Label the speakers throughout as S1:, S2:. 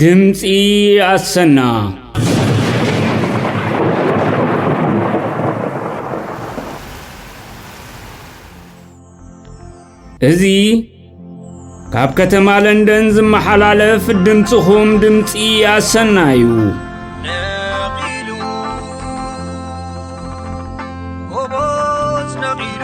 S1: ድምፂ ኣሰና እዚ ካብ ከተማ ለንደን ዝመሓላለፍ ድምፅኹም ድምፂ ኣሰና እዩ ነቒሉ ጎቦት ነቒሉ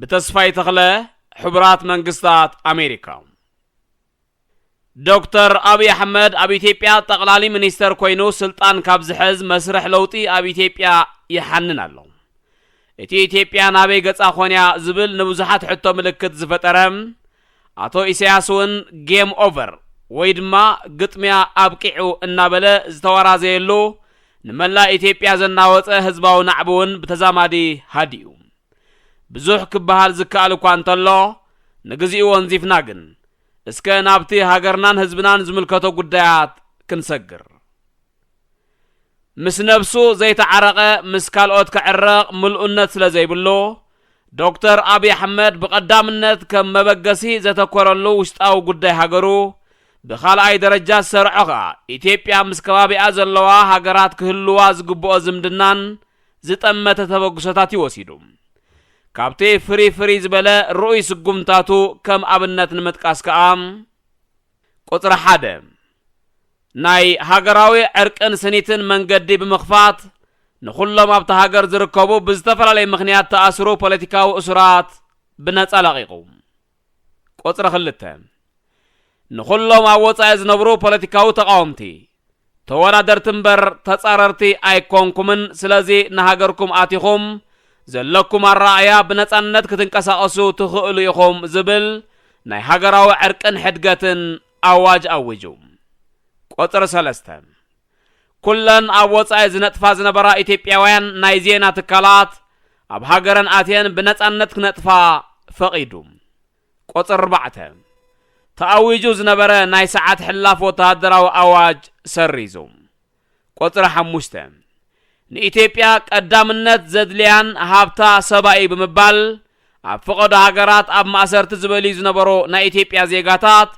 S2: ብተስፋይ ተኽለ ሕቡራት መንግስታት ኣሜሪካ ዶክተር ኣብዪ ኣሕመድ ኣብ ኢትዮጵያ ጠቕላሊ ሚኒስተር ኮይኑ ስልጣን ካብ ዝሕዝ መስርሕ ለውጢ ኣብ ኢትዮጵያ ይሓንን ኣሎ። እቲ ኢትዮጵያ ናበይ ገጻ ኮንያ ዝብል ንብዙሓት ሕቶ ምልክት ዝፈጠረ ኣቶ ኢሳያስ እውን ጌም ኦቨር ወይ ድማ ግጥሚያ ኣብቂዑ እናበለ ዝተወራዘየሉ ንመላእ ኢትዮጵያ ዘናወጸ ህዝባዊ ናዕቢ እውን ብተዛማዲ ሃዲኡ። ብዙሕ ክበሃል ዝከኣል እኳ እንተሎ ንግዚኡ ወንዚፍና ግን እስከ ናብቲ ሃገርናን ህዝብናን ዝምልከቶ ጉዳያት ክንሰግር። ምስ ነብሱ ዘይተዓረቐ ምስ ካልኦት ክዕረቕ ምልኡነት ስለ ዘይብሉ ዶክተር ኣብይ ኣሕመድ ብቐዳምነት ከም መበገሲ ዘተኮረሉ ውሽጣዊ ጉዳይ ሃገሩ ብኻልኣይ ደረጃ ዝሰርዖ ከኣ ኢትዮጵያ ምስ ከባቢኣ ዘለዋ ሃገራት ክህልዋ ዝግብኦ ዝምድናን ዝጠመተ ተበግሶታት እዩ ወሲዱ። ካብቲ ፍርይ ፍርይ ዝበለ ርኡይ ስጉምታቱ ከም ኣብነት ንምጥቃስ ከኣ፣ ቁጽሪ ሓደ፣ ናይ ሃገራዊ ዕርቅን ስኒትን መንገዲ ብምኽፋት፣ ንኹሎም ኣብታ ሃገር ዝርከቡ ብዝተፈላለየ ምኽንያት ተኣስሩ ፖለቲካዊ እሱራት ብነጻ ለቒቑ። ቁጽሪ ክልተ፣ ንኹሎም ኣብ ወጻኢ ዝነብሩ ፖለቲካዊ ተቓወምቲ፣ ተወዳደርቲ እምበር ተጻረርቲ ኣይኮንኩምን፣ ስለዚ ንሃገርኩም ኣቲኹም ዘለኩም ኣረኣእያ ብነጻነት ክትንቀሳቐሱ ትኽእሉ ኢኹም ዝብል ናይ ሃገራዊ ዕርቅን ሕድገትን ኣዋጅ ኣዊጁ። ቁጽሪ ሰለስተ፣ ኩለን ኣብ ወጻኢ ዝነጥፋ ዝነበራ ኢትዮጵያውያን ናይ ዜና ትካላት ኣብ ሃገረን ኣትየን ብነጻነት ክነጥፋ ፈቒዱ። ቁጽሪ ኣርባዕተ፣ ተኣዊጁ ዝነበረ ናይ ሰዓት ሕላፍ ወተሃደራዊ ኣዋጅ ሰሪዙ። ቁጽሪ ሓሙሽተ፣ ንኢትዮጵያ ቀዳምነት ዘድልያን ሃብታ ሰባ እዩ ብምባል ኣብ ፈቐዶ ሃገራት ኣብ ማእሰርቲ ዝበልዩ ዝነበሩ ናይ ኢትዮጵያ ዜጋታት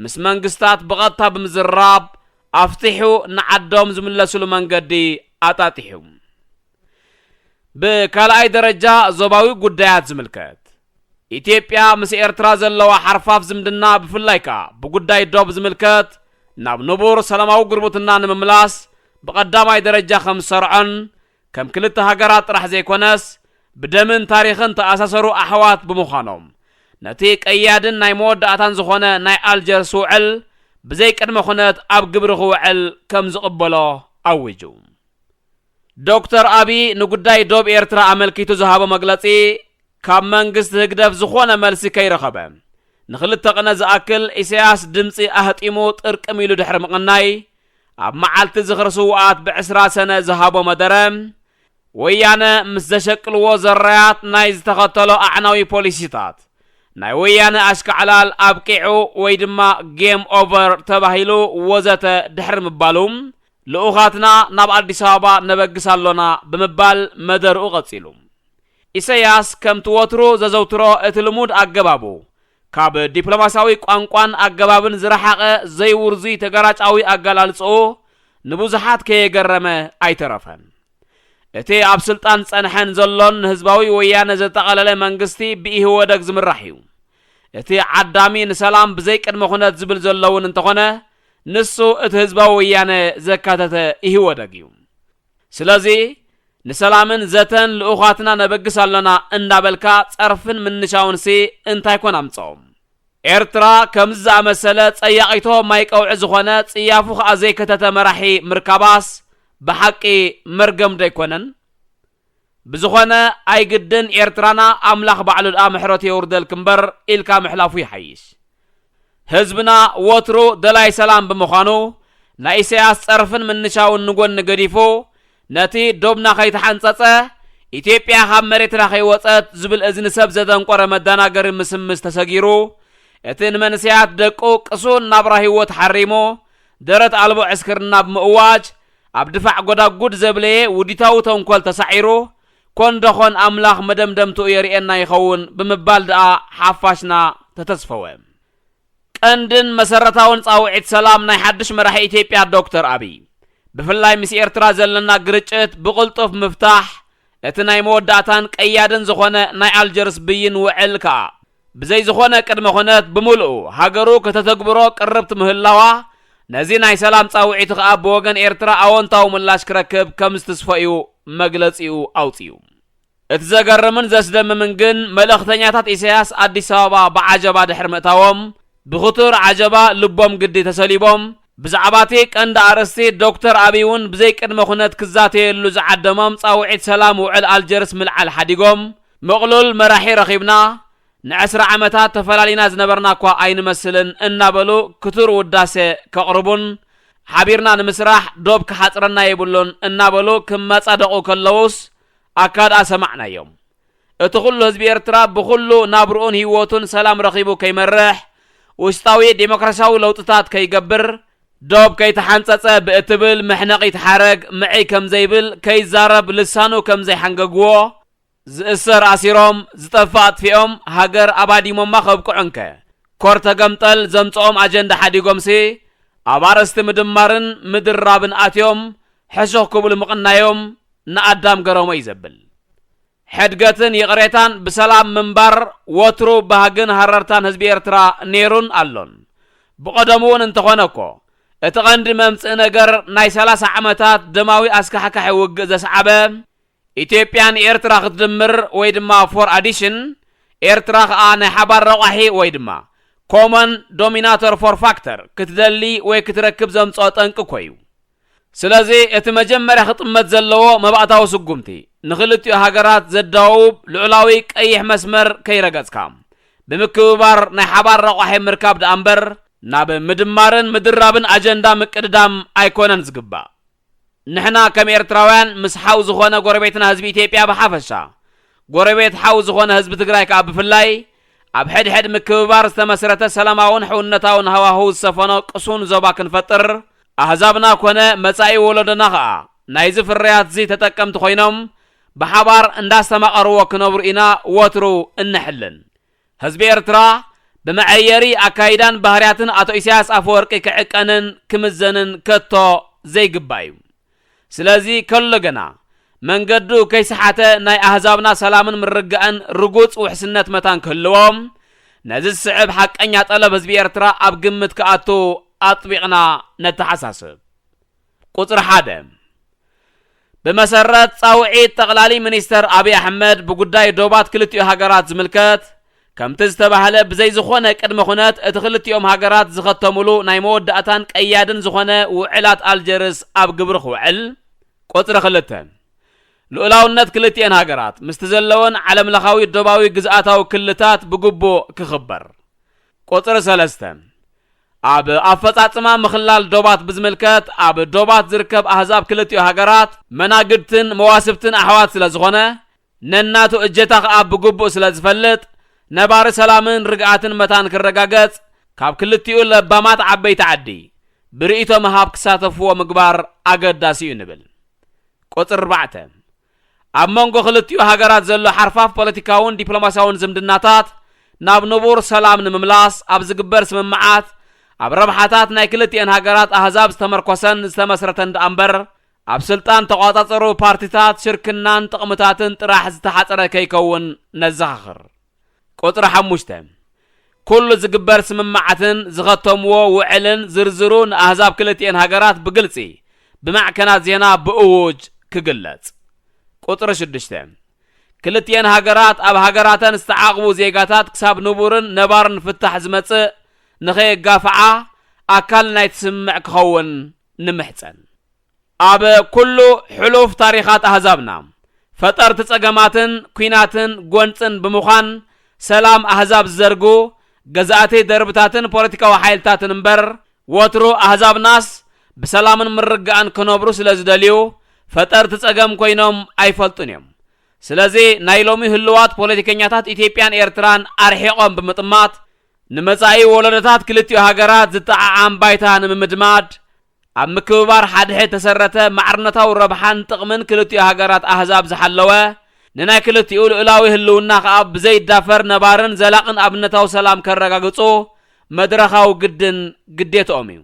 S2: ምስ መንግስታት ብቐጥታ ብምዝርራብ ኣፍቲሑ ንዓዶም ዝምለስሉ መንገዲ ኣጣጢሑ። ብካልኣይ ደረጃ ዞባዊ ጉዳያት ዝምልከት። ኢትዮጵያ ምስ ኤርትራ ዘለዋ ሓርፋፍ ዝምድና ብፍላይ ከኣ ብጉዳይ ዶብ ዝምልከት ናብ ንቡር ሰላማዊ ጉርብትና ንምምላስ ብቐዳማይ ደረጃ ከም ዝሰርዖን ከም ክልተ ሃገራት ጥራሕ ዘይኮነስ ብደምን ታሪኽን ተኣሳሰሩ ኣሕዋት ብምዃኖም ነቲ ቀያድን ናይ መወዳእታን ዝኾነ ናይ ኣልጀርስ ውዕል ብዘይ ቅድመ ኩነት ኣብ ግብሪ ክውዕል ከም ዝቕበሎ ኣዊጁ። ዶክተር ኣቢይ ንጉዳይ ዶብ ኤርትራ ኣመልኪቱ ዝሃቦ መግለጺ ካብ መንግስቲ ህግደፍ ዝኾነ መልሲ ከይረኸበ፣ ንክልተ ቅነ ዝኣክል ኢሰያስ ድምጺ ኣህጢሙ ጥርቅም ኢሉ ድሕሪ ምቕናይ፣ ኣብ መዓልቲ ዝኽሪ ስዉኣት ብዕስራ ሰነ ዝሃቦ መደረ፣ ወያነ ምስ ዘሸቅልዎ ዘራያት ናይ ዝተኸተሎ ኣዕናዊ ፖሊሲታት፣ ናይ ወያነ ኣሽካዕላል ኣብቂዑ ወይ ድማ ጌም ኦቨር ተባሂሉ ወዘተ ድሕሪ ምባሉ፣ ልኡኻትና ናብ ኣዲስ ኣበባ ነበግስ ኣሎና ብምባል መደርኡ ቀጺሉ። ኢሰያስ ከምቲ ወትሩ ዘዘውትሮ እቲ ልሙድ ኣገባቡ፣ ካብ ዲፕሎማስያዊ ቋንቋን ኣገባብን ዝረሓቐ ዘይውርዙይ ተገራጫዊ ኣገላልጽኡ ንብዙሓት ከየገረመ ኣይተረፈን። እቲ ኣብ ስልጣን ዝጸንሐን ዘሎን ንህዝባዊ ወያነ ዘጠቐለለ መንግስቲ ብኢህወደግ ዝምራሕ እዩ። እቲ ዓዳሚ ንሰላም ብዘይ ቅድመ ኩነት ዝብል ዘሎውን እንተኾነ ንሱ እቲ ህዝባዊ ወያነ ዘካተተ ኢህወደግ እዩ። ስለዚ ንሰላምን ዘተን ልኡኻትና ነበግስ ኣሎና እንዳበልካ ጸርፍን ምንሻውንሲ እንታይ ኮን ኣምጸኦ? ኤርትራ ከምዚ ዝኣመሰለ ጸያቒቶ ማይ ቀውዒ ዝኾነ ጽያፉ ከኣ ዘይከተተ መራሒ ምርካባስ ብሓቂ መርገምዶ ኣይኮነን? ብዝኾነ ኣይግድን ኤርትራና ኣምላኽ ባዕሉ ድኣ ምሕረቱ የውርደልኪ እምበር ኢልካ ምሕላፉ ይሓይሽ። ህዝብና ወትሩ ደላይ ሰላም ብምዃኑ፣ ናይ ኢሳያስ ጸርፍን ምንሻውን ንጎኒ ገዲፉ፣ ነቲ ዶብና ከይተሓንጸጸ፣ ኢትዮጵያ ካብ መሬትና ከይወጸት ዝብል እዚ ንሰብ ዘደንቆረ መዳናገሪ ምስምስ ተሰጊሩ፣ እቲ ንመንእሰያት ደቁ ቅሱን ናብራ ህይወት ሓሪሙ፣ ደረት ኣልቦ ዕስክርና ብምእዋጅ፣ ኣብ ድፋዕ ጎዳጉድ ዘብለየ ውዲታዊ ተንኮል ተሳዒሩ፣ ኮን ደኾን ኣምላኽ መደምደምትኡ የርእየና ይኸውን ብምባል ድኣ ሓፋሽና ተተስፈወ። ቀንድን መሰረታውን ጻውዒት ሰላም ናይ ሓድሽ መራሒ ኢትዮጵያ ዶክተር ኣብይ፣ ብፍላይ ምስ ኤርትራ ዘለና ግርጭት ብቕልጡፍ ምፍታሕ፣ እቲ ናይ መወዳእታን ቀያድን ዝኾነ ናይ ኣልጀርስ ብይን ውዕል ከኣ ብዘይ ዝኾነ ቅድመ ኩነት ብምልኡ ሃገሩ ከተተግብሮ ቅርብቲ ምህላዋ፣ ነዚ ናይ ሰላም ጻውዒት ኸኣ ብወገን ኤርትራ ኣወንታዊ ምላሽ ክረክብ ከም ዝትስፎ'ዩ መግለጺኡ ኣውጺኡ። እቲ ዘገርምን ዘስደምምን ግን መልእኽተኛታት ኢሳያስ ኣዲስ ኣበባ ብዓጀባ ድሕሪ ምእታዎም፣ ብኽቱር ዓጀባ ልቦም ግዲ ተሰሊቦም፣ ብዛዕባ'ቲ ቀንዲ ኣርእስቲ ዶክተር ኣብይ'ውን ብዘይ ቅድመ ኩነት ክዛተየሉ ዝዓደሞም ጻውዒት ሰላም ውዕል ኣልጀርስ ምልዓል ሓዲጎም፣ ምቕሉል መራሒ ረኺብና፣ ንዕስራ ዓመታት ተፈላሊና ዝነበርና'ኳ ኣይንመስልን እናበሉ ክቱር ውዳሰ ከቕርቡን ሓቢርና ንምስራሕ ዶብ ክሓጽረና የብሉን እናበሉ ክመጻደቑ ከለዉስ ኣካድኣ ሰማዕናዮም። እቲ ኩሉ ህዝቢ ኤርትራ ብኹሉ ናብርኡን ህይወቱን ሰላም ረኺቡ ከይመርሕ፣ ውሽጣዊ ደሞክራሲያዊ ለውጥታት ከይገብር፣ ዶብ ከይተሓንጸጸ ብእትብል መሕነቒት ሓረግ ምዕይ ከምዘይብል፣ ከይዛረብ ልሳኑ ከምዘይሓንገጉዎ፣ ዝእሰር ኣሲሮም፣ ዝጠፍእ ኣጥፊኦም፣ ሃገር ኣባዲሞማ ከብቅዑ እንከ፣ ኮር ተገምጠል ዘምጸኦም ኣጀንዳ ሓዲጎምሲ፣ ኣብ ኣርእስቲ ምድማርን ምድርራብን ኣትዮም ሕሹኽ ክብሉ ምቕናዮም ንኣዳም ገረሞ እዩ ዘብል። ሕድገትን ይቕሬታን ብሰላም ምንባር ወትሩ ባህግን ሃረርታን ህዝቢ ኤርትራ ነይሩን ኣሎን። ብቐደሙ'ውን እንተኾነ'ኮ፣ እቲ ቀንዲ መምጽኢ ነገር ናይ ሰላሳ ዓመታት ደማዊ ኣስካሕካሒ ውግእ ዘስዓበ፣ ኢትዮጵያ ንኤርትራ ክትድምር ወይ ድማ ፎር ኣዲሽን፣ ኤርትራ ከኣ ናይ ሓባር ረቋሒ ወይ ድማ ኮመን ዶሚናተር ፎር ፋክተር ክትደሊ ወይ ክትረክብ ዘምጽኦ ጠንቂ እኮዩ። ስለዚ እቲ መጀመርያ ክጥመት ዘለዎ መባእታዊ ስጉምቲ፣ ንክልቲኡ ሃገራት ዘዳውብ ልዑላዊ ቀይሕ መስመር ከይረገጽካ፣ ብምክብባር ናይ ሓባር ረቋሒ ምርካብ ደኣምበር፣ ናብ ምድማርን ምድራብን ኣጀንዳ ምቅድዳም ኣይኮነን ዝግባእ። ንሕና ከም ኤርትራውያን ምስ ሓው ዝኾነ ጎረቤትና ህዝቢ ኢትዮጵያ ብሓፈሻ፣ ጎረቤት ሓው ዝኾነ ህዝቢ ትግራይ ከኣ ብፍላይ፣ ኣብ ሕድሕድ ምክብባር ዝተመስረተ ሰላማውን ሕውነታውን ሃዋህው ዝሰፈኖ ቅሱን ዞባ ክንፈጥር፣ ኣህዛብና ኮነ መጻኢ ወለዶና ከኣ ናይዚ ፍርያትዚ ተጠቀምቲ ኮይኖም ብሓባር እንዳስተማቐርዎ ክነብሩ ኢና ወትሩ እንሕልን። ህዝቢ ኤርትራ ብመዐየሪ ኣካይዳን ባህርያትን ኣቶ ኢሳያስ ኣፈወርቂ ክዕቀንን ክምዘንን ከቶ ዘይግባእ'ዩ። ስለዚ ከሎ ገና መንገዱ ከይሰሓተ ናይ ኣህዛብና ሰላምን ምርጋእን ርጉጽ ውሕስነት መታን ክህልዎ ነዚ ዝስዕብ ሓቀኛ ጠለብ ህዝቢ ኤርትራ ኣብ ግምት ክኣቱ ኣጥቢቕና ነተሓሳስብ። ቁጽሪ ሓደ፣ ብመሰረት ጻውዒት ጠቕላሊ ሚኒስተር ኣብይ ኣሕመድ ብጉዳይ ዶባት ክልቲኡ ሃገራት ዝምልከት፣ ከምቲ ዝተባህለ ብዘይ ዝኾነ ቅድመ ኩነት እቲ ክልቲኦም ሃገራት ዝኸተሙሉ ናይ መወዳእታን ቀያድን ዝኾነ ውዕላት ኣልጀርስ ኣብ ግብሪ ክውዕል፣ ቁጽሪ ክልተ፣ ልኡላውነት ክልቲኤን ሃገራት ምስቲ ዘለወን ዓለምለኻዊ ዶባዊ ግዝኣታዊ ክልታት ብግቡእ ክኽበር፣ ቁጽሪ ሰለስተ፣ ኣብ ኣፈፃፅማ ምኽላል ዶባት ብዝምልከት ኣብ ዶባት ዝርከብ ኣህዛብ ክልቲኡ ሃገራት መናግድትን መዋስብትን ኣሕዋት ስለዝኾነ ነናቱ እጀታ ከዓ ብግቡእ ስለዝፈልጥ ነባሪ ሰላምን ርግኣትን መታን ክረጋገፅ ካብ ክልቲኡ ለባማት ዓበይቲ ዓዲ ብርኢቶ ምሃብ ክሳተፍዎ ምግባር ኣገዳሲ እዩ ንብል። ቁፅሪ ኣርባዕተ ኣብ መንጎ ክልቲኡ ሃገራት ዘሎ ሓርፋፍ ፖለቲካውን ዲፕሎማስያውን ዝምድናታት ናብ ንቡር ሰላም ንምምላስ ኣብ ዝግበር ስምምዓት ኣብ ረብሓታት ናይ ክልቲኤን ሃገራት ኣህዛብ ዝተመርኮሰን ዝተመስረተን ደኣምበር ኣብ ስልጣን ተቋጻጸሩ ፓርቲታት ሽርክናን ጥቕምታትን ጥራሕ ዝተሓጽረ ከይከውን ነዘኻኽር። ቁጽሪ ሓሙሽተ፣ ኩሉ ዝግበር ስምምዓትን ዝኸተምዎ ውዕልን ዝርዝሩ ንኣህዛብ ክልቲኤን ሃገራት ብግልጺ ብማዕከናት ዜና ብእዉጅ ክግለጽ። ቁጽሪ ሽዱሽተ፣ ክልቲኤን ሃገራት ኣብ ሃገራተን ዝተዓቕቡ ዜጋታት ክሳብ ንቡርን ነባርን ፍታሕ ዝመጽእ ንኸየጋፍዓ ኣካል ናይቲ ስምምዕ ክኸውን ንምሕጸን። ኣብ ኩሉ ሕሉፍ ታሪኻት ኣህዛብና፣ ፈጠርቲ ጸገማትን ኩናትን ጎንጽን ብምዃን ሰላም ኣህዛብ ዝዘርጉ ገዛእቲ ደርብታትን ፖለቲካዊ ሓይልታትን እምበር፣ ወትሩ ኣህዛብናስ ብሰላምን ምርግጋእን ክነብሩ ስለ ዝደልዩ ፈጠርቲ ጸገም ኮይኖም ኣይፈልጡን እዮም። ስለዚ ናይ ሎሚ ህሉዋት ፖለቲከኛታት ኢትዮጵያን ኤርትራን ኣርሒቖም ብምጥማት፣ ንመጻኢ ወለዶታት ክልቲኡ ሃገራት ዝጠዓዓም ባይታ ንምምድማድ ኣብ ምክብባር ሓድሕድ ተሰረተ ማዕርነታዊ ረብሓን ጥቕምን ክልቲኡ ሃገራት ኣህዛብ ዝሓለወ፣ ንናይ ክልቲኡ ልኡላዊ ህልውና ከኣ ብዘይዳፈር ነባርን ዘላቕን ኣብነታዊ ሰላም ከረጋግጹ መድረኻዊ ግድን ግዴትኦም እዩ።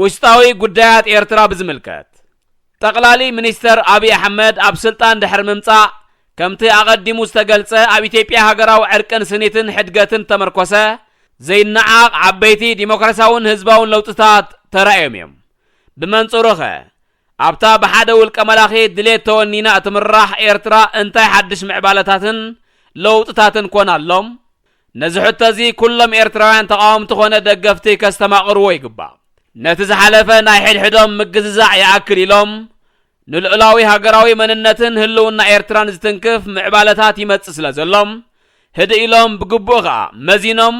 S2: ውሽጣዊ ጉዳያት ኤርትራ ብዝምልከት፣ ጠቕላሊ ሚኒስተር ኣብይ ኣሕመድ ኣብ ስልጣን ድሕሪ ምምጻእ፣ ከምቲ ኣቐዲሙ ዝተገልጸ ኣብ ኢትዮጵያ ሃገራዊ ዕርቅን ስኒትን ሕድገትን እተመርኮሰ ዘይነዓቕ ዓበይቲ ዲሞክራስያውን ህዝባውን ለውጥታት ተራእዮም እዮም። ብመንጽሩኸ፣ ኣብታ ብሓደ ውልቀ መላኺ ድሌት ተወኒና እትምራሕ ኤርትራ እንታይ ሓድሽ ምዕባለታትን ለውጥታትን ኮን ኣሎም? ነዚ ሕቶ እዚ ኩሎም ኤርትራውያን ተቓወምቲ ኮነ ደገፍቲ ከስተማቕርዎ ይግባእ። ነቲ ዝሓለፈ ናይ ሕድሕዶም ምግዝዛዕ ይኣክል ኢሎም ንልኡላዊ ሃገራዊ መንነትን ህልውና ኤርትራን ዝትንክፍ ምዕባለታት ይመጽእ ስለ ዘሎ ህድእ ኢሎም ብግቡእ ከኣ መዚኖም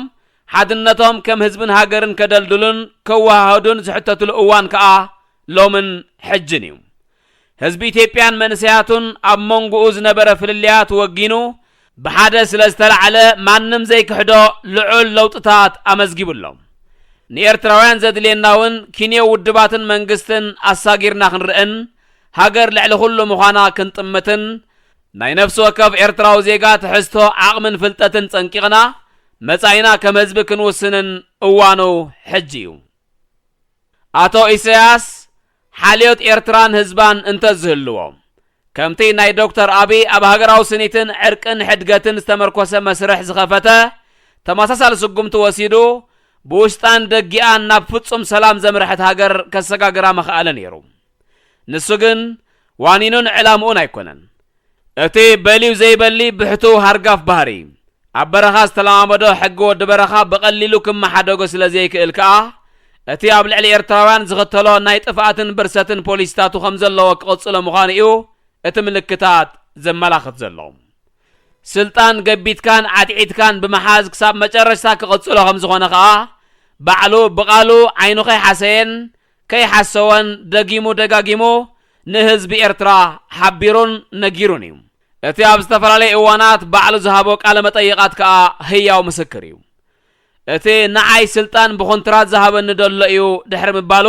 S2: ሓድነቶም ከም ህዝብን ሃገርን ከደልድሉን ከወሃህዱን ዝሕተትሉ እዋን ከኣ ሎምን ሕጅን እዩ። ህዝቢ ኢትዮጵያን መንእሰያቱን ኣብ መንጎኡ ዝነበረ ፍልልያት ወጊኑ ብሓደ ስለ ዝተላዕለ ማንም ዘይክሕዶ ልዑል ለውጥታት ኣመዝጊቡ ኣሎ። ንኤርትራውያን ዘድልየና እውን ኪንዮ ውድባትን መንግስትን ኣሳጊርና ክንርእን ሃገር ልዕሊ ኩሉ ምዃና ክንጥምትን ናይ ነፍሲ ወከፍ ኤርትራዊ ዜጋ ትሕዝቶ ዓቕምን ፍልጠትን ጸንቂቕና መጻኢና ከም ህዝቢ ክንውስንን እዋኑ ሕጂ እዩ። ኣቶ ኢሰያስ ሓልዮት ኤርትራን ህዝባን እንተ ዝህልዎ፣ ከምቲ ናይ ዶክተር ኣቢይ ኣብ ሃገራዊ ስኒትን ዕርቅን ሕድገትን ዝተመርኮሰ መስርሕ ዝኸፈተ ተመሳሳሊ ስጉምቲ ወሲዱ ብውሽጣን ደጊኣን ናብ ፍጹም ሰላም ዘምርሐት ሃገር ከሰጋግራ መኸኣለ ነይሩ። ንሱ ግን ዋኒኑን ዕላምኡን ኣይኮነን። እቲ በልዩ ዘይበሊ ብሕቱው ሃርጋፍ ባህሪ፣ ኣብ በረኻ ዝተለማመዶ ሕጊ ወዲ በረኻ ብቐሊሉ ክመሓደጎ ስለ ዘይክእል ከኣ፣ እቲ ኣብ ልዕሊ ኤርትራውያን ዝኽተሎ ናይ ጥፍኣትን ብርሰትን ፖሊሲታቱ ከም ዘለዎ ክቕጽሎ ምዃኑ'ዩ እቲ ምልክታት ዘመላኽት ዘሎ። ስልጣን ገቢትካን ዓትዒትካን ብምሓዝ ክሳብ መጨረሽታ ክቕጽሎ ከም ዝኾነ ከኣ ባዕሉ ብቓሉ ዓይኑ ከይሓሰየን ከይሓሰወን ደጊሙ ደጋጊሙ ንህዝቢ ኤርትራ ሓቢሩን ነጊሩን እዩ። እቲ ኣብ ዝተፈላለየ እዋናት ባዕሉ ዝሃቦ ቃለ መጠይቓት ከኣ ህያው ምስክር እዩ። እቲ ንዓይ ስልጣን ብኹንትራት ዝሃበኒ ደሎ እዩ ድሕሪ ምባሉ፣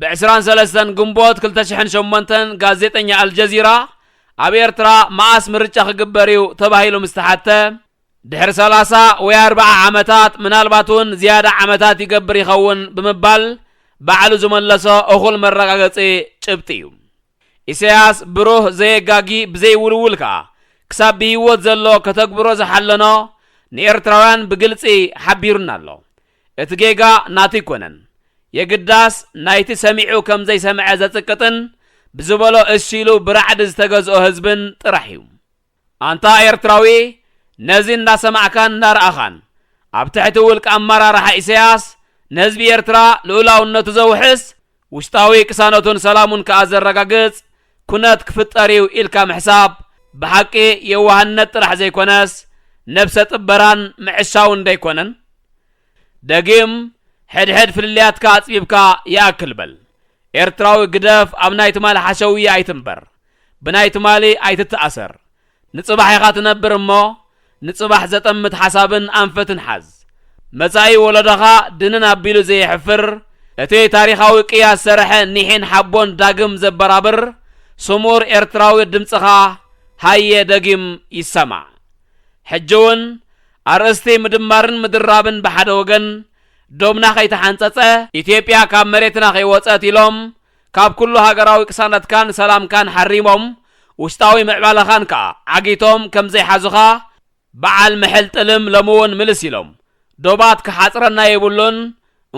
S2: ብ ዕስራን ሰለስተን ግንቦት ክልተ ሽሕን ሸሞንተን ጋዜጠኛ ኣልጀዚራ ኣብ ኤርትራ መኣስ ምርጫ ክግበር እዩ ተባሂሉ ምስ ተሓትተ፣ ድሕሪ ሰላሳ ወይ ኣርብዓ ዓመታት ምናልባት እውን ዝያዳ ዓመታት ይገብር ይኸውን ብምባል ባዕሉ ዝመለሶ እኹል መረጋገጺ ጭብጢ እዩ። ኢሳያስ ብሩህ፣ ዘየጋጊ፣ ብዘይውልውል ከኣ ክሳብ ብህይወት ዘሎ ከተግብሮ ዝሓለኖ ንኤርትራውያን ብግልጺ ሓቢሩና ኣሎ። እቲ ጌጋ ናቱ ኣይኮነን። የግዳስ ናይቲ ሰሚዑ ከም ዘይሰምዐ ዘጽቅጥን ብዝበሎ እሺ ኢሉ ብራዕዲ ዝተገዝኦ ህዝብን ጥራሕ እዩ። ኣንታ ኤርትራዊ ነዚ እንዳሰማዕካን እንዳረኣኻን ኣብ ትሕቲ ውልቀ ኣመራርሓ ኢሰያስ ንህዝቢ ኤርትራ ልኡላውነቱ ዘውሕስ ውሽጣዊ ቅሳነቱን ሰላሙን ከኣ ዘረጋግጽ ኩነት ክፍጠር እዩ ኢልካ ምሕሳብ ብሓቂ የዋህነት ጥራሕ ዘይኮነስ ነብሰ ጥበራን ምዕሻውን ደይኮነን? ደጊም ሕድሕድ ፍልልያትካ ኣጽቢብካ ይኣክል በል። ኤርትራዊ ግደፍ ኣብ ናይ ትማል ሓሸውየ ኣይትንበር። ብናይ ትማሊ ኣይትተኣሰር፣ ንጽባሕ ኢኻ ትነብር እሞ ንጽባሕ ዘጠምት ሓሳብን ኣንፈትን ሓዝ። መጻኢ ወሎዶኻ ድንን ኣቢሉ ዘየሕፍር፣ እቲ ታሪኻዊ ቅያ ዝሰረሐ ኒሕን ሓቦን ዳግም ዘበራብር ስሙር ኤርትራዊ ድምጽኻ ሃየ ደጊም ይሰማዕ። ሕጂ'ውን ኣርእስቲ ምድማርን ምድራብን ብሓደ ወገን፣ ዶብና ከይተሓንጸጸ፣ ኢትዮጵያ ካብ መሬትና ከይወጸት ኢሎም ካብ ኩሉ ሃገራዊ ቅሳነትካን ሰላምካን ሓሪሞም ውሽጣዊ ምዕባለኻን ከኣ ዓጊቶም ከም ዘይሓዙኻ በዓል ምሕል ጥልም ሎምውን ምልስ ኢሎም ዶባት ክሓጽረና የብሉን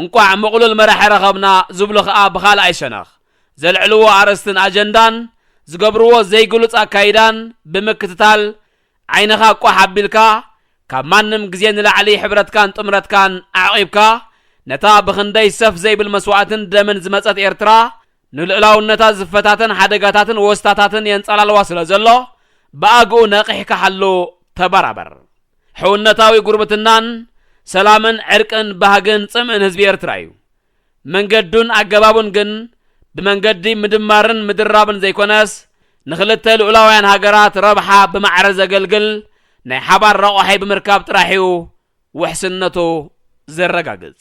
S2: እንቋዕ ምቕሉል መራሒ ረኸብና ዝብሉ ከኣ ብኻልኣይ ሸነኽ ዘልዕልዎ ኣርእስትን ኣጀንዳን ዝገብርዎ ዘይግሉጽ ኣካይዳን ብምክትታል ዓይንኻ ቋሕ ኣቢልካ ካብ ማንም ግዜ ንላዕሊ ሕብረትካን ጥምረትካን ኣዕቒብካ ነታ ብኽንደይ ሰፍ ዘይብል መስዋእትን ደምን ዝመጸት ኤርትራ ንልኡላውነታ ዝፈታተን ሓደጋታትን ወስታታትን የንጻላልዋ ስለዘሎ ብኣግኡ ነቒሕካ ሓሉ ተበራበር። ሕውነታዊ ጉርብትናን ሰላምን ዕርቅን ባህግን ጽምእን ህዝቢ ኤርትራ እዩ። መንገዱን ኣገባቡን ግን ብመንገዲ ምድማርን ምድራብን ዘይኮነስ ንክልተ ልኡላውያን ሃገራት ረብሓ ብማዕረ ዘገልግል ናይ ሓባር ረቋሒ ብምርካብ ጥራሕ እዩ ውሕስነቱ ዘረጋግጽ።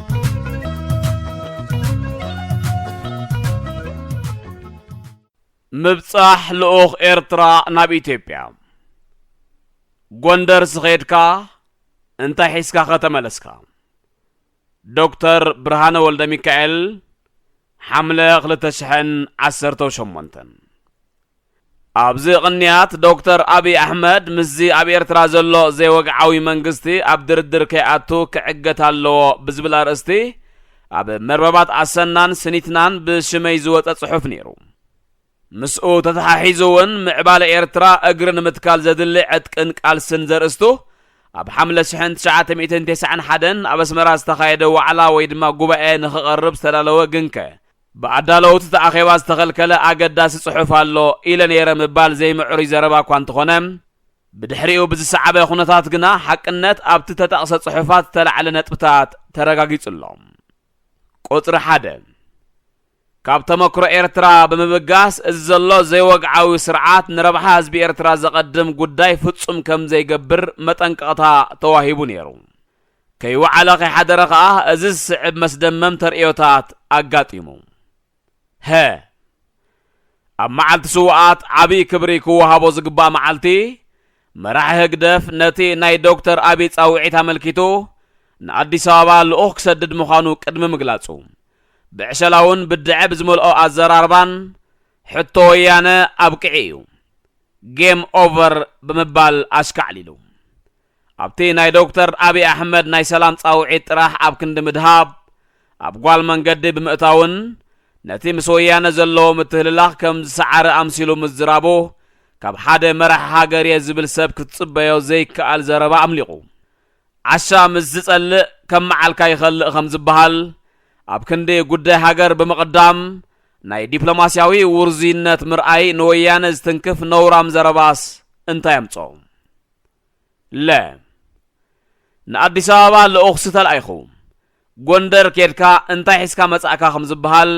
S2: ምብጻሕ ልኡኽ ኤርትራ ናብ ኢትዮጵያ ጎንደር ስኼድካ እንታይ ሒዝካ ከተመለስካ? ዶክተር ብርሃነ ወልደ ሚካኤል ሓምለ 2018 ኣብዚ ቕንያት ዶክተር ኣብይ ኣሕመድ ምስዚ ኣብ ኤርትራ ዘሎ ዘይወግዓዊ መንግስቲ ኣብ ድርድር ከይኣቱ ክዕገት ኣለዎ ብዝብል ኣርእስቲ ኣብ መርበባት ኣሰናን ስኒትናን ብሽመይ ዝወጸ ጽሑፍ ነይሩ። ምስኡ ተተሓሒዙ እውን ምዕባለ ኤርትራ እግሪ ንምትካል ዘድሊ ዕጥቅን ቃልስን ዘርእስቱ ኣብ ሓምለ ሽሕን ትሽዓተ ሚእትን ቴስዓን ሓደን ኣብ ኣስመራ ዝተኻየደ ዋዕላ ወይ ድማ ጉባኤ ንኽቐርብ ዝተዳለወ ግንከ ብኣዳለውቲ እቲ ኣኼባ ዝተኸልከለ ኣገዳሲ ጽሑፍ ኣሎ ኢለ ነይረ ምባል ዘይምዕሩይ ዘረባ እኳ እንተኾነ፣ ብድሕሪኡ ብዝሰዓበ ኩነታት ግና ሓቅነት ኣብቲ እተጠቕሰ ጽሑፋት ዝተላዕለ ነጥብታት ተረጋጊጹ ኣሎ። ቁጽሪ ሓደ፣ ካብ ተመክሮ ኤርትራ ብምብጋስ እዚ ዘሎ ዘይወግዓዊ ስርዓት ንረብሓ ህዝቢ ኤርትራ ዘቐድም ጉዳይ ፍጹም ከምዘይገብር መጠንቀቕታ ተዋሂቡ ነይሩ። ከይወዓለ ከይሓደረ ከኣ እዚ ዝስዕብ መስደመም ተርእዮታት ኣጋጢሙ። ሀ። ኣብ መዓልቲ ስውኣት ዓብይ ክብሪ ክወሃቦ ዝግባእ መዓልቲ፣ መራሒ ህግደፍ ነቲ ናይ ዶክተር ኣቢይ ጻውዒት ኣመልኪቱ ንኣዲስ ኣበባ ልኡኽ ክሰድድ ምዃኑ ቅድሚ ምግላጹ፣ ብዕሸላውን ብድዐ ብዝመልኦ ኣዘራርባን፣ ሕቶ ወያነ ኣብቂዑ እዩ፣ Game Over፣ ብምባል ኣሽካዕሊሉ። ኣብቲ ናይ ዶክተር ኣብይ ኣሕመድ ናይ ሰላም ጻውዒት ጥራሕ ኣብ ክንዲ ምድሃብ፣ ኣብ ጓል መንገዲ ብምእታውን ነቲ ምስ ወያነ ዘለዎ ምትህልላኽ ከም ዝሰዓረ ኣምሲሉ ምዝራቡ ካብ ሓደ መራሒ ሃገር'የ ዝብል ሰብ ክትጽበዮ ዘይከኣል ዘረባ ኣምሊቑ። ዓሻ ምስ ዝጸልእ ከም መዓልካ ይኸልእ ከም ዝበሃል፣ ኣብ ክንዲ ጉዳይ ሃገር ብምቕዳም ናይ ዲፕሎማስያዊ ውርዙይነት ምርኣይ ንወያነ ዝትንክፍ ነውራም ዘረባስ እንታይ ኣምጽኦ? ለ። ንኣዲስ ኣበባ ልኡኽ ዝተላኢኹ። ጎንደር ኬድካ እንታይ ሒዝካ መጻእካ ከም ዝበሃል፣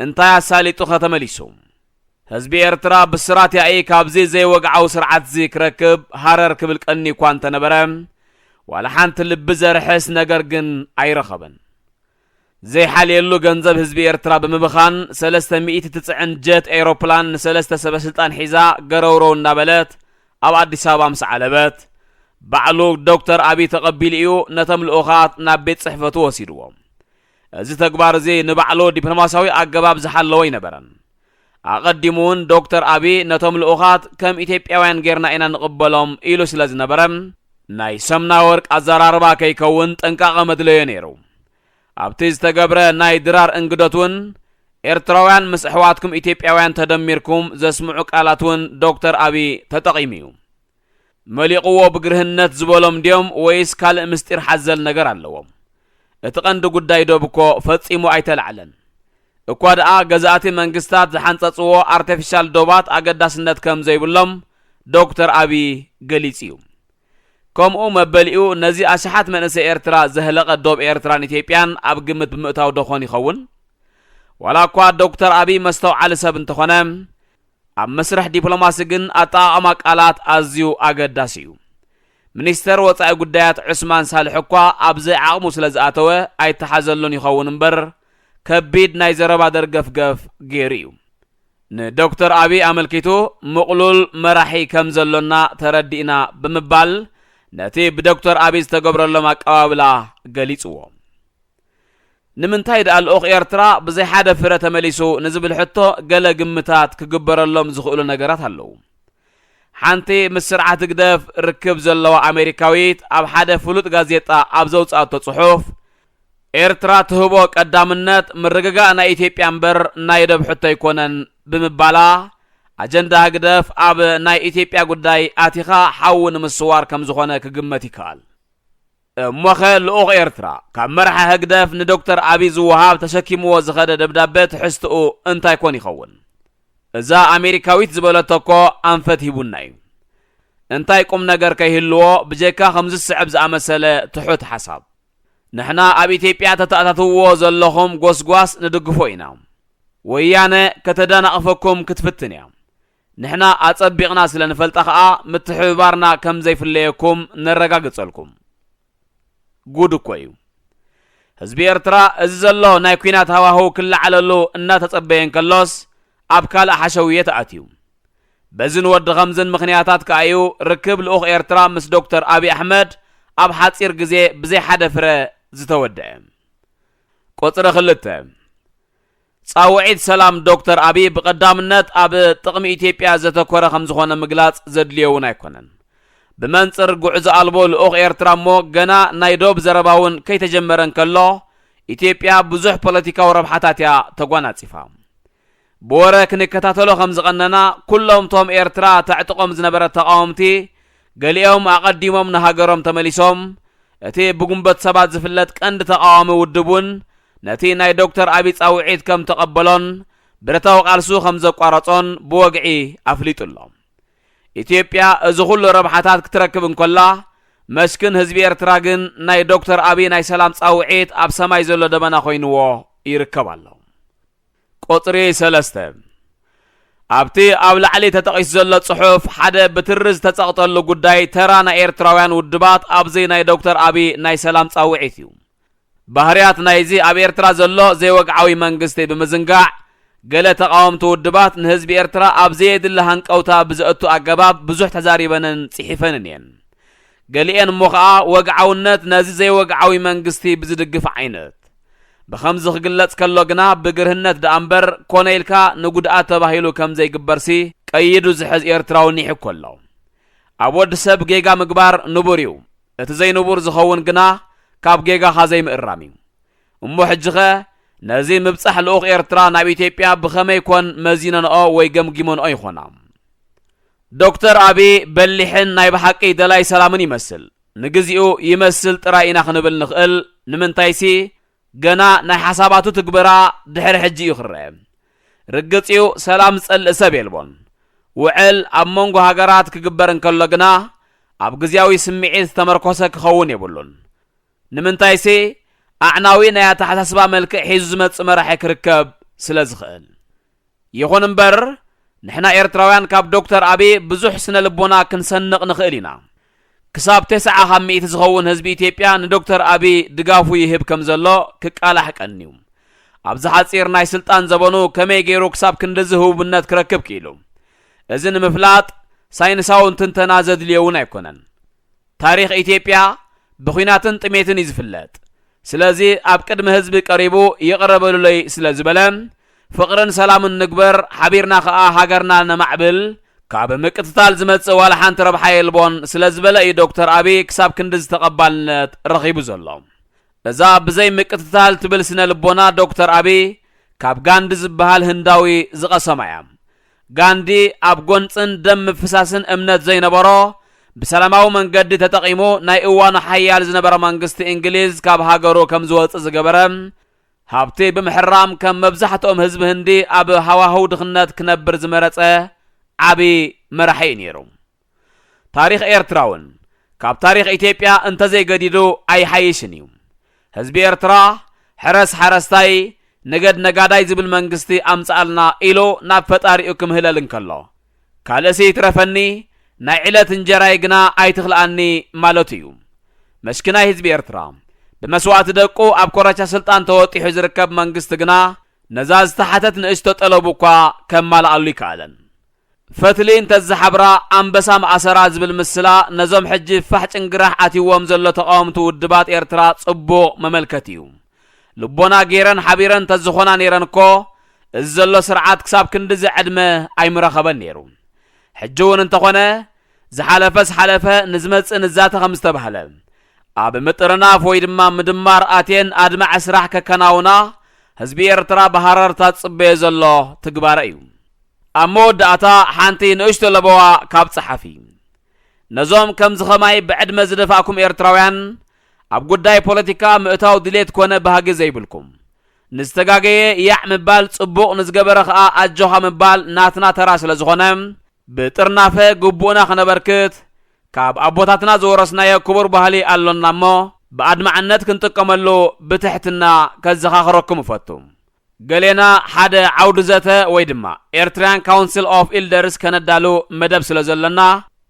S2: እንታይ ኣሳሊጡኸ ተመሊሱ? ህዝቢ ኤርትራ ብስራት ያኢ ካብዚ ዘይወግዓዊ ስርዓትዚ ክረክብ ሃረር ክብል ቀንዩኳ እንተነበረ፣ ዋላ ሓንቲ ልቢ ዘርሕስ ነገር ግን ኣይረኸበን። ዘይሓልየሉ ገንዘብ ህዝቢ ኤርትራ ብምብኻን ሰለስተ ሚእቲ ትጽዕን ጀት ኤሮፕላን ንሰለስተ ሰበስልጣን ሒዛ ገረውረው እንዳበለት ኣብ ኣዲስ ኣበባ ምስ ዓለበት ባዕሉ ዶክተር ኣቢይ ተቐቢሉ እዩ ነቶም ልኡኻት ናብ ቤት ጽሕፈቱ ወሲድዎም። እዚ ተግባር እዚ ንባዕሉ ዲፕሎማስያዊ ኣገባብ ዝሓለወ ኣይነበረን። ኣቐዲሙ'ውን ዶክተር ኣቢይ ነቶም ልኡኻት ከም ኢትዮጵያውያን ጌርና ኢና ንቕበሎም ኢሉ ስለ ዝነበረ፣ ናይ ሰምናወርቅ ኣዘራርባ ከይከውን ጥንቃቐ መድለዮ ነይሩ። ኣብቲ ዝተገብረ ናይ ድራር እንግዶት'ውን ኤርትራውያን ምስ ኣሕዋትኩም ኢትዮጵያውያን ተደሚርኩም ዘስምዑ ቃላት'ውን ዶክተር ኣቢይ ተጠቒሙ'ዩ። መሊቑዎ ብግርህነት ዝበሎም ድዮም ወይስ ካልእ ምስጢር ሓዘል ነገር ኣለዎም? እቲ ቀንዲ ጉዳይ ዶብ'ኮ ፈጺሙ ኣይተላዕለን። እኳ ደኣ ገዛእቲ መንግስታት ዝሓንጸጽዎ ኣርተፊሻል ዶባት ኣገዳስነት ከም ዘይብሎም ዶክተር ኣቢይ ገሊጹ'ዩ። ከምኡ መበሊኡ ነዚ ኣሽሓት መንእሰይ ኤርትራ ዘህለቐ ዶብ ኤርትራን ኢትዮጵያን ኣብ ግምት ብምእታው ዶኾን ይኸውን? ዋላኳ ዶክተር ኣቢይ መስተውዓሊ ሰብ እንተኾነ፣ ኣብ መስርሕ ዲፕሎማሲ ግን ኣጠቓቕማ ቃላት ኣዝዩ ኣገዳሲ እዩ። ሚኒስተር ወጻኢ ጉዳያት ዑስማን ሳልሕ እኳ ኣብ ዘይዓቕሙ ስለ ዝኣተወ ኣይተሓዘሉን ይኸውን እምበር ከቢድ ናይ ዘረባ ደርገፍገፍ ገይሩ እዩ። ንዶክተር ኣብይ ኣመልኪቱ ምቕሉል መራሒ ከም ዘሎና ተረዲእና ብምባል ነቲ ብዶክተር ኣብይ ዝተገብረሎም ኣቀባብላ ገሊጽዎ። ንምንታይ ድኣ ልኡኽ ኤርትራ ብዘይ ሓደ ፍረ ተመሊሱ ንዝብል ሕቶ ገለ ግምታት ክግበረሎም ዝኽእሉ ነገራት ኣለዉ። ሓንቲ ምስ ስርዓት ህግደፍ ርክብ ዘለዋ ኣሜሪካዊት ኣብ ሓደ ፍሉጥ ጋዜጣ ኣብ ዘውጽኣቶ ጽሑፍ፣ ኤርትራ ትህቦ ቀዳምነት ምርግጋእ ናይ ኢትዮጵያ እምበር ናይ ዶብ ሕቶ ኣይኮነን ብምባላ ኣጀንዳ ህግደፍ ኣብ ናይ ኢትዮጵያ ጉዳይ ኣቲኻ ሓዊ ንምስዋር ከምዝኾነ ክግመት ይከኣል። እሞኸ ልኡኽ ኤርትራ ካብ መርሓ ህግደፍ ንዶክተር ኣቢይ ዝወሃብ ተሸኪምዎ ዝኸደ ደብዳበ ትሕዝትኡ እንታይ ኮን ይኸውን? እዛ ኣሜሪካዊት ዝበለቶ እኮ ኣንፈት ሂቡና እዩ። እንታይ ቁምነገር ከይህልዎ ብጀካ ከምዚ ዝስዕብ ዝኣመሰለ ትሑት ሓሳብ። ንሕና ኣብ ኢትዮጵያ ተተኣታትውዎ ዘለኹም ጎስጓስ ንድግፎ ኢና። ወያነ ከተዳናቕፈኩም ክትፍትን እያ። ንሕና ኣጸቢቕና ስለ ንፈልጣ ከኣ ምትሕብባርና ከም ዘይፍለየኩም ነረጋግጸልኩም። ጉድ እኮ እዩ። ህዝቢ ኤርትራ እዚ ዘሎ ናይ ኩናት ሃዋህው ክለዓለሉ እናተጸበየ እንከሎስ ኣብ ካልእ ሓሸውየ ተኣትዩ። በዝን ወዲ ኸምዝን ምኽንያታት ከኣ እዩ ርክብ ልኡኽ ኤርትራ ምስ ዶክተር ኣቢ ኣሕመድ ኣብ ሓጺር ግዜ ብዘይ ሓደ ፍረ ዝተወደኣ። ቁጽሪ ክልተ። ፃውዒት ሰላም ዶክተር ኣብይ ብቐዳምነት ኣብ ጥቕሚ ኢትዮጵያ ዘተኮረ ከምዝኾነ ምግላፅ ዘድልዮ እውን ኣይኮነን። ብመንፅር ጉዕዞ ኣልቦ ልኡኽ ኤርትራ እሞ ገና ናይ ዶብ ዘረባ እውን ከይተጀመረ እንከሎ ኢትዮጵያ ብዙሕ ፖለቲካዊ ረብሓታት እያ ተጓናፂፋ። ብወረ ክንከታተሎ ከምዝቐነና ኩሎም እቶም ኤርትራ ተዕጥቖም ዝነበረት ተቓወምቲ ገሊኦም ኣቐዲሞም ንሃገሮም ተመሊሶም፣ እቲ ብጉንበት ሰባት ዝፍለጥ ቀንዲ ተቓዋሚ ውድብ እውን ነቲ ናይ ዶክተር ኣቢይ ጻውዒት ከም ተቐበሎን ብረታዊ ቃልሱ ከም ዘቋረጾን ብወግዒ ኣፍሊጡ ኣሎ። ኢትዮጵያ እዚ ኩሉ ረብሓታት ክትረክብ እንከላ፣ መስኪን ህዝቢ ኤርትራ ግን ናይ ዶክተር ኣቢይ ናይ ሰላም ጻውዒት ኣብ ሰማይ ዘሎ ደበና ኮይንዎ ይርከብ ኣሎ። ቁጽሪ ሰለስተ፣ ኣብቲ ኣብ ላዕሊ ተጠቒሱ ዘሎ ጽሑፍ ሓደ ብትሪ ዝተጸቕጠሉ ጉዳይ ተራ ናይ ኤርትራውያን ውድባት ኣብዚ ናይ ዶክተር ኣቢይ ናይ ሰላም ጻውዒት እዩ። ባህርያት ናይዚ ኣብ ኤርትራ ዘሎ ዘይወግዓዊ መንግስቲ ብምዝንጋዕ ገለ ተቓወምቲ ውድባት ንህዝቢ ኤርትራ ኣብ ዘየድሊ ሃንቀውታ ብዘእቱ ኣገባብ ብዙሕ ተዛሪበንን ጽሒፈንን እየን። ገሊኤን እሞ ከኣ ወግዓውነት ነዚ ዘይወግዓዊ መንግስቲ ብዝድግፍ ዓይነት። ብኸምዚ ክግለጽ ከሎ ግና ብግርህነት ደኣ እምበር ኮነ ኢልካ ንጉድኣት ተባሂሉ ከምዘይግበርሲ ቀይዱ ዝሕዝ ኤርትራዊ ኒሕ እኮ ኣሎ። ኣብ ወዲ ሰብ ጌጋ ምግባር ንቡር እዩ፣ እቲ ዘይንቡር ዝኸውን ግና ካብ ጌጋኻ ዘይምእራም እዩ። እሞ ሕጂኸ ነዚ ምብጻሕ ልኡኽ ኤርትራ ናብ ኢትዮጵያ ብኸመይ ኮን መዚነንኦ ወይ ገምጊመንኦ ይኾና? ዶክተር ኣቢ በሊሕን ናይ ብሓቂ ደላይ ሰላምን ይመስል። ንግዚኡ ይመስል ጥራይ ኢና ክንብል ንኽእል፣ ንምንታይሲ ገና ናይ ሓሳባቱ ትግበራ ድሕሪ ሕጂ እዩ ክረኣ። ርግጽ እዩ ሰላም ዝጸልእ ሰብ የልቦን። ውዕል ኣብ መንጎ ሃገራት ክግበር እንከሎ ግና ኣብ ግዝያዊ ስምዒት ዝተመርኮሰ ክኸውን የብሉን። ንምንታይሴ ኣዕናዊ ናይ ኣተሓሳስባ መልክዕ ሒዙ ዝመጽእ መራሒ ክርከብ ስለ ዝኽእል። ይኹን እምበር ንሕና ኤርትራውያን ካብ ዶክተር ኣቢ ብዙሕ ስነ ልቦና ክንሰንቕ ንኽእል ኢና። ክሳብ ተስዓ ካብ ሚእቲ ዝኸውን ህዝቢ ኢትዮጵያ ንዶክተር ኣቢ ድጋፉ ይህብ ከም ዘሎ ክቃላሕ ቀንዩ። ኣብዚ ሓጺር ናይ ስልጣን ዘበኑ ከመይ ገይሩ ክሳብ ክንድዚ ህቡብነት ክረክብ ክኢሉ እዚ ንምፍላጥ ሳይንሳውን ትንተና ዘድልዮ እውን ኣይኮነን። ታሪኽ ኢትዮጵያ ብኩናትን ጥሜትን እዩ ዝፍለጥ ስለዚ ኣብ ቅድሚ ህዝቢ ቀሪቡ ይቅረ በሉለይ ስለ ዝበለ ፍቅርን ሰላምን ንግበር ሓቢርና ከኣ ሃገርና ነማዕብል ካብ ምቅትታል ዝመጽእ ዋላ ሓንቲ ረብሓ የልቦን ስለ ዝበለ እዩ ዶክተር ኣብይ ክሳብ ክንድዚ ተቀባልነት ረኺቡ ዘሎ እዛ ብዘይ ምቅትታል ትብል ስነ ልቦና ዶክተር ኣብይ ካብ ጋንዲ ዝበሃል ህንዳዊ ዝቀሰማ እያ ጋንዲ ኣብ ጎንጽን ደም ምፍሳስን እምነት ዘይነበሮ፣ ብሰላማዊ መንገዲ ተጠቒሙ ናይ እዋኑ ሓያል ዝነበረ መንግስቲ እንግሊዝ ካብ ሃገሩ ከም ዝወጽእ ዝገበረ፣ ሃብቲ ብምሕራም ከም መብዛሕትኦም ህዝቢ ህንዲ ኣብ ሃዋህው ድኽነት ክነብር ዝመረጸ ዓቢ መራሒ'ዩ ነይሩ። ታሪኽ ኤርትራውን ካብ ታሪኽ ኢትዮጵያ እንተዘይገዲዱ ኣይሓይሽን እዩ። ህዝቢ ኤርትራ ሕረስ ሓረስታይ ንገድ ነጋዳይ ዝብል መንግስቲ ኣምጽኣልና ኢሉ ናብ ፈጣሪኡ ክምህለል እንከሎ ካልእሲ ይትረፈኒ ናይ ዕለት እንጀራይ ግና ኣይትኽልኣኒ ማለቱ እዩ። መስኪናይ ህዝቢ ኤርትራ ብመስዋእቲ ደቁ ኣብ ኮረቻ ስልጣን ተወጢሑ ዝርከብ መንግስቲ ግና ነዛ ዝተሓተት ንእሽቶ ጠለቡ እኳ ከማልኣሉ ኣይከኣለን። ፈትሊ እንተዝሓብራ ኣንበሳ ምኣሰራ ዝብል ምስላ ነዞም ሕጂ ፋሕ ጭንግራሕ ኣትይዎም ዘሎ ተቓወምቲ ውድባት ኤርትራ ጽቡቕ መመልከቲ እዩ። ልቦና ገይረን ሓቢረን ተዝኾና ነይረን እኮ እዚ ዘሎ ስርዓት ክሳብ ክንድዚ ዕድመ ኣይምረኸበን ነይሩ። ሕጂ እውን እንተኾነ ዝሓለፈስ ሓለፈ ንዝመጽእ ንዛተ ከምዝተባህለ ኣብ ምጥርናፍ ወይ ድማ ምድማር ኣትየን ኣድማዒ ስራሕ ከከናውና ህዝቢ ኤርትራ ብሃረርታ ዝጽበዮ ዘሎ ትግባረ እዩ። ኣብ መወዳእታ ሓንቲ ንእሽቶ ለበዋ ካብ ጸሓፊ። ነዞም ከምዚ ከማይ ብዕድመ ዝደፋእኩም ኤርትራውያን ኣብ ጉዳይ ፖለቲካ ምእታው ድሌት ኮነ ባህጊ ዘይብልኩም። ንዝተጋገየ ያዕ ምባል ጽቡቕ ንዝገበረ ከኣ ኣጆኻ ምባል ናትና ተራ ስለ ዝኾነ ብጥርናፈ ግቡእና ክነበርክት ካብ ኣቦታትና ዝወረስናዮ ክቡር ባህሊ ኣሎና እሞ ብኣድማዕነት ክንጥቀመሉ ብትሕትና ከዘኻኽረኩም እፈቱ። ገሌና ሓደ ዓውዲ ዘተ ወይ ድማ ኤርትርያን ካውንስል ኦፍ ኢልደርስ ከነዳሉ መደብ ስለ ዘሎና፣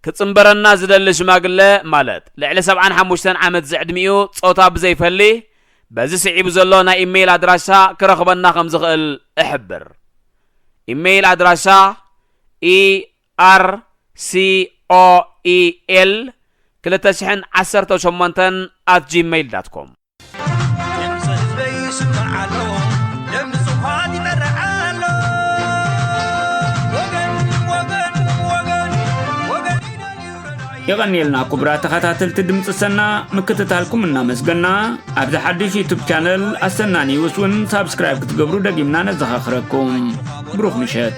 S2: ክጽንበረና ዝደሊ ሽማግለ ማለት ልዕሊ ሰብዓን ሓሙሽተን ዓመት ዝዕድሚኡ ጾታ ብዘይፈሊ በዚ ስዒቡ ዘሎ ናይ ኢመይል ኣድራሻ ክረኽበና ከም ዝኽእል እሕብር። ኢመይል ኣድራሻ፣ ercoel ክልተ ሽሕን ዓሰርተው ሸሞንተን ኣት ጂመይል ዳት ኮም።
S1: የቐንየልና ኩቡራ ተኸታተልቲ ድምፂ ሰና ምክትታልኩም እናመስገና ኣብዚ ሓድሽ ዩቱብ ቻነል ኣሰና ኒውስ እውን ሳብስክራይብ ክትገብሩ ደጊምና ነዘኻኽረኩም ብሩኽ ምሸት